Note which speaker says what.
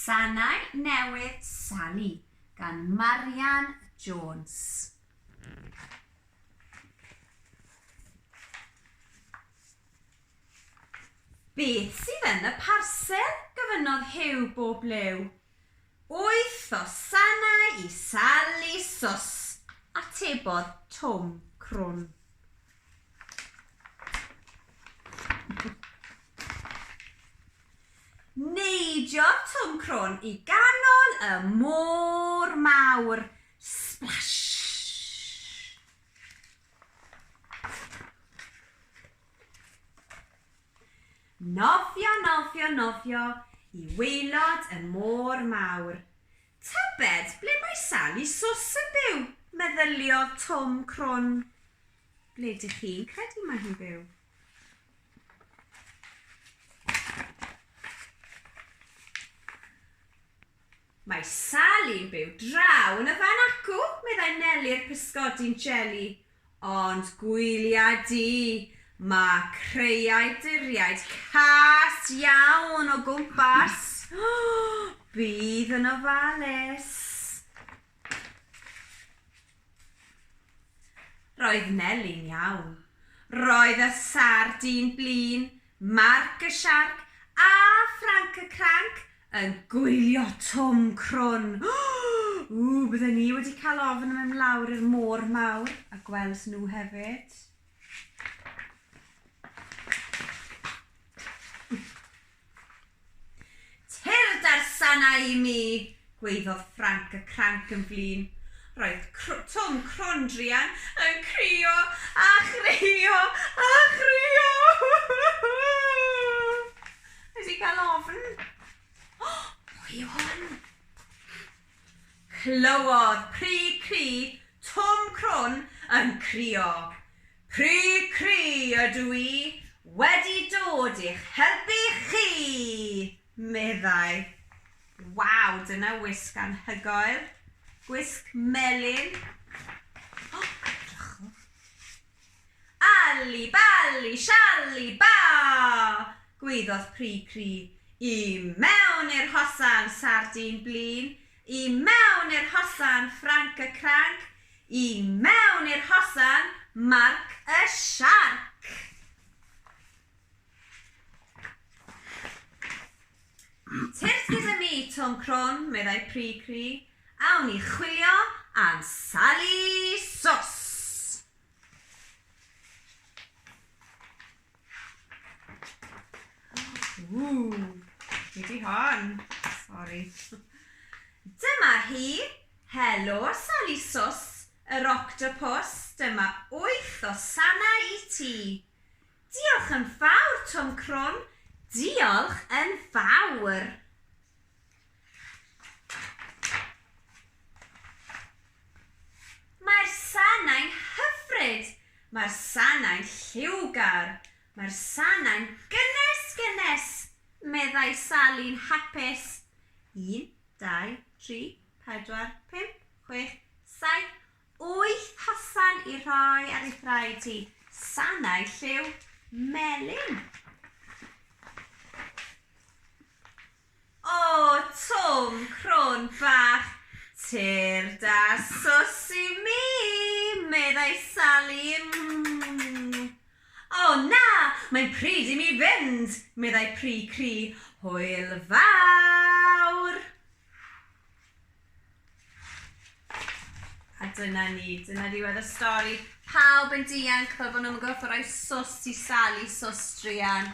Speaker 1: Sanau Newydd Sali gan Marian Jones. Beth sydd yn y parsel? gofynnodd Huw bob blew. Wyth o sanau i Sali Sos, atebodd Twm crwn. Neidiodd Twm crwn i ganol y môr mawr. Splash! Nofio, nofio, nofio i waelod y môr mawr. Tybed ble mae Sali Swss yn byw? meddyliodd Twm Crwn. Ble dych chi'n credu mae hi'n byw? Mae Sali yn byw draw yn y fan acw, meddai Neli'r pysgodi'n jeli. Ond gwylia di, mae creiau duriaid cas iawn o gwmpas. Bydd yn ofalus. Roedd Neli'n iawn. Roedd y sardîn blin, Marc y siarc, a Ffranc y cranc yn gwylio Twm crwn. Ww, bydden i wedi cael ofn mynd lawr i'r môr mawr a gweld nhw hefyd. Tyrd â'r sanau i mi! gwaeddodd Ffranc y Cranc yn flin. Roedd Twm Crwn Druan yn crio a chrio a chrio! Nes i gael ofn. O! Pwy yw hwn? Clywodd Pry Cry Twm Crwn yn crio. Pry Cry ydw i wedi dod i'ch helpu chi! meddai. Waw, dyna wisg anhygoel. Gwisg melyn. O, edrychwch. Alli, balli, shalli, ba! gwaeddodd Pru Cri. I mewn i'r hosan, Sardîn Blin! I mewn i'r hosan, Ffranc y Cranc! I mewn i'r hosan, Marc y Siarc! Tyrd gyda mi, Twm Crwn, meddai Pru Cri. Awn ni chwilio am Sali Sos! Ww, fi di hon. Sorry. Dyma hi, Helo Sally Sos, yr octopus, dyma wyth o sana i ti. Diolch yn fawr, Twm Crwn, diolch yn fawr. Mae'r sanau'n hyfryd! Mae'r sanau'n lliwgar! Mae'r sanau'n gynnes, gynnes! meddai Sali'n hapus. Un, dau, tri, pedwar, pump, chwech, saith, wyth hofan i rhoi ar ei thraed hi, sanau lliw melyn! O, Twm, crwn bach tyrd a swsy i mi! meddai Sali. O, na! Mae'n pryd i mi fynd! meddai Pry Cri. Hwyl fawr! A dyna ni, dyna ddiwedd y stori. Pawb yn dianc fel bod nhw ddim yn gorfod rhoi swsd i Sali, swsd druan.